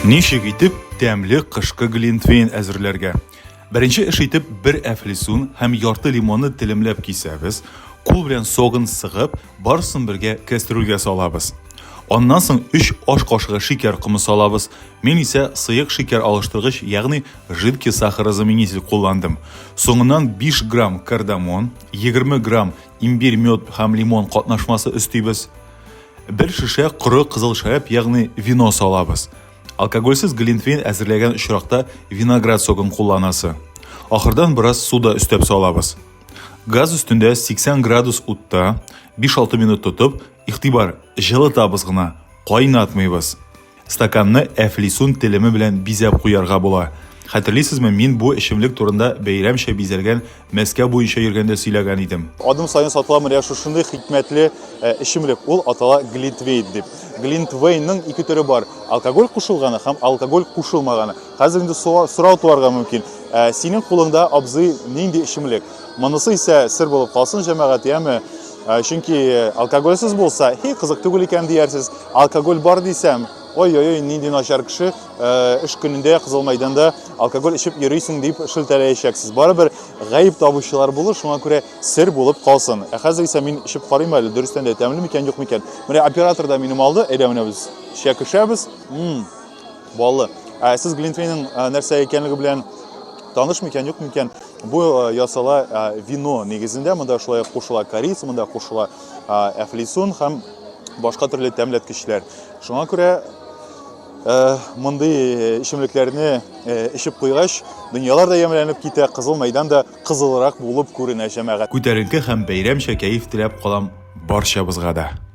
Ничек итеп тәмле кышкы глинтвейн әзерләргә? Беренче эш итеп бер әфлисун һәм ярты лимонны телемләп кисәбез, кул белән согын сыгып, барысын бергә кәстрүлгә салабыз. Аннан соң 3 аш кашыгы шикәр комы салабыз, Мин исә сыек шикәр алыштыргыч, ягъни жидкий сахарозаменитель кулландым. Соңыннан 5 грамм кардамон, 20 грамм имбирь, мед һәм лимон катнашмасы өстибез. Бер шешә коры кызыл шәраб, ягъни вино салабыз. Алкогольсез глинтвейн әзерләгән очракта виноград согын кулланасы. Ахырдан бераз су да өстәп салабыз. Газ өстендә 80 градус утта 5-6 минут тотып, игътибар, җылытабыз гына, кайнатмыйбыз. Стаканны әфлисун телеме белән бизәп куярга була. Хәтерлисезме, мин бу эчемлек турында бәйрәмчә бизәлгән мәскә буенча йөргәндә сөйләгән идем. Адым саен сатыла менә шушындый хикмәтле э, эчемлек. Ул атала глинтвейн дип. Глинтвейнның ике төре бар. Алкоголь кушылганы һәм алкоголь кушылмаганы. Хәзер инде сорау туарга мөмкин. Ә синең кулыңда абзый нинди эчемлек? Монысы исә сер булып калсын җәмәгать, яме? Ә, чөнки алкогольсез булса, һи, кызык түгел икән диярсез. Алкоголь бар дисәм, ой-ой-ой, нинди начар кеше, э, эш көнендә Кызыл мәйданда алкоголь эчеп йөрисең дип шелтәләячәксез. Барыбер гаеп табучылар булыр, шуңа күрә сер булып калсын. Ә хәзер исә мин эчеп карыйм әле, дөрестән дә тәмле микән, юк микән. Менә оператор да минем алды, әйдә менә без чәкешәбез. Мм. Баллы. Ә сез глинтвейнның ә, нәрсә икәнлеге белән таныш микән, юк микән? Бу ә, ясала ә, вино нигезендә, монда шулай ук кушыла корис, монда кушыла ә, әфлисун һәм башка төрле тәмләткечләр. Шуңа күрә Э, мондый э, эчемлекләрне э, эчеп куйгач, дөньялар да ямьләнеп китә, кызыл мәйдан да кызылрак булып күренә җәмәгать. Күтәренке һәм бәйрәмчә кәеф теләп калам барчабызга да.